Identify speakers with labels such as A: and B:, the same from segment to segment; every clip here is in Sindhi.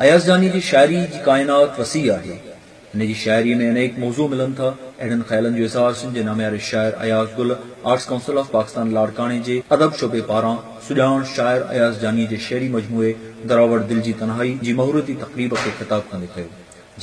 A: اياز جاني جي شاعري جي ڪائنات وسيع آهي. هن جي شاعري ۾ انيڪ موضوع ملن ٿا. اهڙن خيالن جو اظهار سنڌ جي نامياري شاعر Ayaz Gul arts council of Pakistan لاڙڪاڻي جي ادب شعبي پاران سڄاڻ شاعر اياز جاني جي شعري مجموعي دراوڙ دل جي تنهائي جي مهورتي تقريب کي خطاب ڪندي ڪيو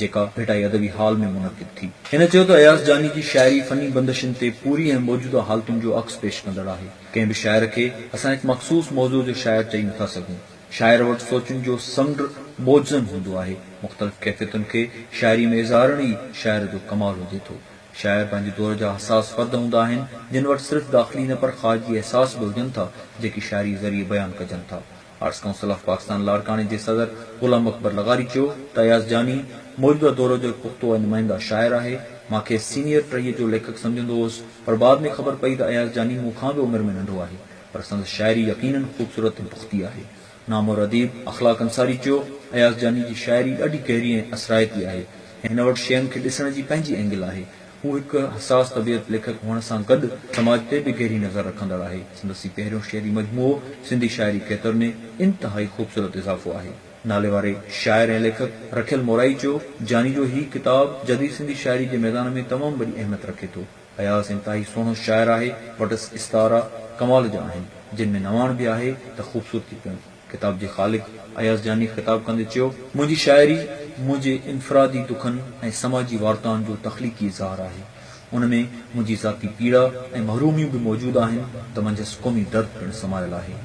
A: جيڪا ڀٽائي ادبي هال ۾ منعقد ٿي. هن چيو ته اياز جاني جي شاعري فني بندشن تي پوري ۽ موجوده حالتن جو عڪس پيش ڪندڙ آهي. ڪنهن به شاعر کي اسان هڪ مخصوص موضوع جو شاعر چئي نٿا سگهون. شاعر وٽ سوچن جو سمنڊ موجزن هوندو آهي. مختلف ڪيفيتن کي شاعريء ۾ اظهارڻ ئي شاعر جو ڪمال هجي ٿو. شاعر پنهنجي دور جا حساس فرد هوندا آهن، جن وٽ صرف داخلي نه پر خارجي احساس به هجن ٿا، جيڪي شاعريء ذريعي بيان ڪجن ٿا. آرٽس ڪائونسل آف پاڪستان لاڙڪاڻي جي صدر غلام اڪبر لغاري چيو ته اياز جاني موجوده دور جو هڪ پختو ۽ نمائنده شاعر آهي. مان کيس سينيئر ٽهيء جو ليکڪ سمجهندو هوس، پر بعد ۾ خبر پئي ته اياز جاني مون کان به عمر ۾ ننڍو آهي. پر سندس شاعري يقينن خوبصورت ۽ پختي آهي. نامور اديب اخلاق انصاري چيو، اياز جاني جي شاعري ڏاڍي گهري ۽ اثرائتي آهي. هن وٽ شين کي ڏسڻ جي پنهنجي اينگل آهي. هو هڪ حساس طبيعت ليکڪ هئڻ سان گڏ سماج تي به گهري نظر رکندڙ آهي. سندس هي پهريون شعري مجموعو سنڌي شاعري کيتر ۾ انتهائي خوبصورت اضافو آهي. ناليواري شاعر ۽ ليکڪ رکيل مورائي چيو، جاني جو هي ڪتاب جديد سنڌي شاعري جي ميدان ۾ تمام وڏي اهميت رکي ٿو. اياز انتهائي سهڻو شاعر آهي، وٽس استعارا ڪمال جا آهن، جن ۾ نواڻ به آهي ته خوبصورتي پڻ. ڪتاب جي خالق اياز جاني خطاب ڪندي چيو. منهنجي شاعري منهنجي انفرادي دکن ۽ سماجي وارتائن جو تخليقي اظهار آهي. ان ۾ منهنجي ذاتي پيڙا ۽ محروميون به موجود آهن ته منجهس قومي درد پڻ سمايل آهي.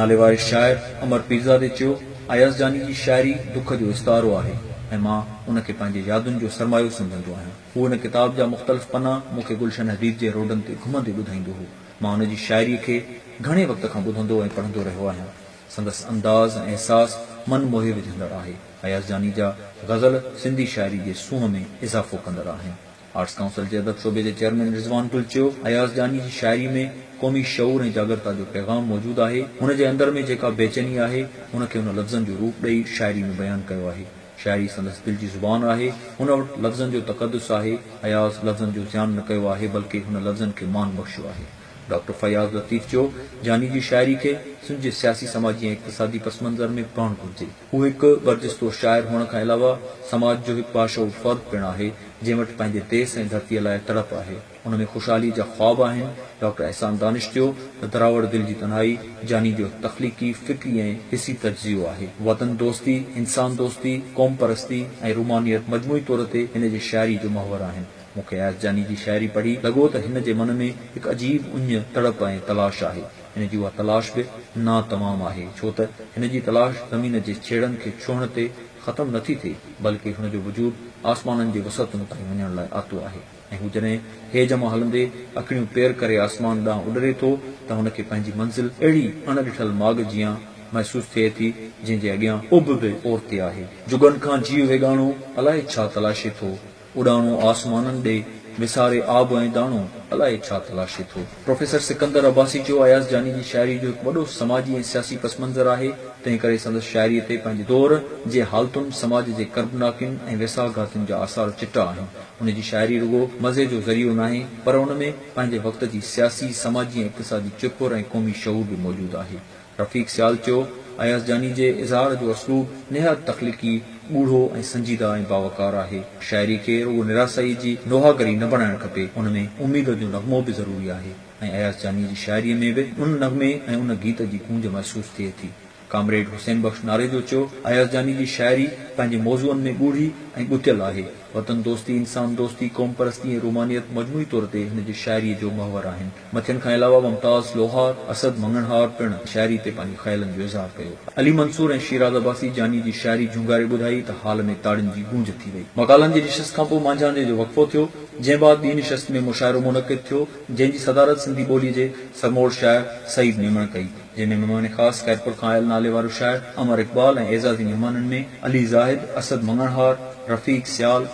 A: ناليواري شاعر امر پيرزادي چيو، اياز جاني جي شاعري دک جو استعارو آهي ۽ مان ان کي پنهنجي يادن جو سرمايو سمجهندو آهيان. هو هن ڪتاب جا مختلف پنا مون کي گلشن حديد جي روڊن تي گهمندي ٻڌائيندو هو. مان هن جي شاعريء کي گهڻي وقت کان ٻڌندو ۽ پڙهندو رهيو آهيان. سندس انداز ۽ احساس من موهي وجهندڙ آهي. اياز جاني جا غزل سنڌي شاعري جي سونهن ۾ اضافو ڪندڙ آهن. آرٽس ڪائونسل جي ادب شعبي جي چيئرمين رضوان گل چيو، اياز جاني جي شاعري ۾ قومي شعور ۽ جاڳرتا جو پيغام موجود آهي. هن جي اندر ۾ جيڪا بيچيني آهي، ان کي هن لفظن جو روپ ڏئي شاعري ۾ بيان ڪيو آهي. شاعري سندس دل جي زبان آهي. هن وٽ لفظن جو تقدس آهي. اياز لفظن جو زيان نه ڪيو آهي، بلڪه هن لفظن کي مان بخشيو آهي. ڊاڪٽر فياض لطيف جو جاني جي شاعري کي سنڌ جي سياسي، سماجي ۽ اقتصادي پس منظر ۾ پڙهڻ گهرجي. هو هڪ برجستو شاعر هئڻ کان علاوه سماج جو هڪ باشعور فرد پڻ آهي، جنهن وٽ پنهنجي ديس ۽ ڌرتيء لاء تڙپ آهي. ان ۾ خوشحالي جا خواب آهن، ڊاڪٽر احسان دانش چيو ته دراوڙ دل جي تنهائي جاني جو تخليقي، فڪري ۽ حسي تجزيو آهي. وطن دوستي، انسان دوستي، قوم پرستي ۽ رومانيت مجموعي طور تي هن جي شاعري جو محور آهن. مون کي اياز جاني جي شاعري پڙهي لڳو ته هن جي من ۾ هڪ عجيب اڃ، تڙپ ۽ تلاش آهي. هن جي اها تلاش به ناتمام آهي، ڇو ته هن جي تلاش زمين جي ڇيڙن کي ڇهڻ تي ختم نٿي ٿئي، بلڪه هن جو وجود آسمانن جي وسعتن تائين وڃڻ لاء آتو آهي. ۽ هو جڏهن هيج مان هلندي اکڙيون پير ڪري آسمان ڏانهن اڏري ٿو ته هن کي پنهنجي منزل اهڙي اڻ ڏٺل ماڳ جيان محسوس ٿئي ٿي جنهن جي اڳيان اڀ به اورتي آهي. جڳن کان جيء ويڳاڻو الائي ڇا تلاشي ٿو، اڏاڻو آسمانن ڏي وساري آب ۽ داڻو الائي ڇا تلاشي ٿو. پروفيسر سڪندر عباسي چيو، اياز جاني جي شاعري جو هڪ وڏو سماجي ۽ سياسي پس منظر آهي، تنهن ڪري سندس شاعري تي پنهنجي دور جي حالتن، سماج جي ڪربناڪين ۽ ويساهه گهاتين جا آثار چٽا آهن. هن جي شاعري رڳو مزي جو ذريعو ناهي، پر ان ۾ پنهنجي وقت جي سياسي، سماجي ۽ اقتصادي چرپر ۽ قومي شعور به موجود آهي. رفيق سيالچو اياز جاني جي اظهار جو اسلوب نهايت تخليقي، ڳوڙهو ۽ سنجيده ۽ باوقار آهي. شاعري کي رڳو نراسائيء جي نوحاڳري نه بڻائڻ کپي، ان ۾ اميد جو نغمو به ضروري آهي ۽ اياز جاني جي شاعريء ۾ به ان نغمي ۽ ان گيت جي گونج محسوس ٿئي ٿي. ڪامريڊ حسين بخش ناريجو چيو، اياز جاني جي شاعري پنهنجي موضوعن ۾ ڳوڙهي ۽ ڳتيل آهي. وطن دوستي، انسان دوستي، قوم پرستي ۽ رومانيت مجموعي طور تي هن جي شاعريء جو محور آهن. مٿين کان علاوه ممتاز لوهار، اسد مڱڻهار پڻ شاعري تي پنهنجي خيالن جو اظهار ڪيو. علي منصور ۽ شيراز عباسي جاني جي شاعري جهونگاري ٻڌائي ته هال ۾ تاڙين جي گونج ٿي وئي. مقالن جي نشست کان پوء مانجهاندي جو وقفو ٿيو، جنهن بعد ٻي نشست ۾ مشاعرو منعقد ٿيو، جنهن جي صدارت سنڌي ٻوليء جي سرموڙ شاعر سعيد ميمڻ ڪئي، جنهن ۾ مهمان خاص خيرپور کان آيل ناليوارو شاعر امر اقبال ۽ اعزازي مهمانن ۾ علي زاهد، اسد مڱڻهار، رفيق سيال،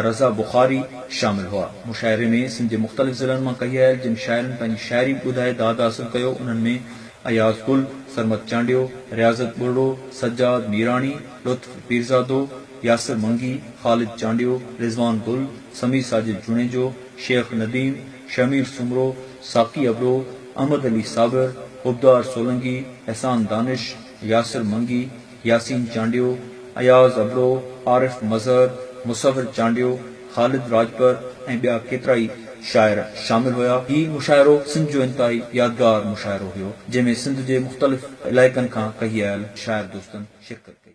A: رضا بخاري شامل هئا. مشاعري ۾ سنڌ جي مختلف ضلعن مان ڪهيل جن شاعرن پنهنجي شاعري ٻڌائي داد حاصل ڪيو انهن ۾ اياز گل، سرمد چانڊيو، رياضت ٻرڙو، سجاد ميراڻي، لطف پيرزادو، ياسر منگي، خالد چانڊيو، رضوان گل، سميع ساجد جوڻيجو، شيخ نديم، شهمير سومرو، ساقي ابڙو، احمد علي صابر، عبدار سولنگي، احسان دانش، ياسر منگي، ياسين چانڊيو، اياز ابڙو، عارف مظهر، مصور چانڊيو، خالد راڄپر ۽ ٻيا ڪيترائي شاعر شامل هيا. هي مشاعرو سنڌ جو انتهائي يادگار مشاعرو هيو، جنهن ۾ سنڌ جي مختلف علائقن کان ڪهي آيل شاعر دوستن شرڪت ڪئي.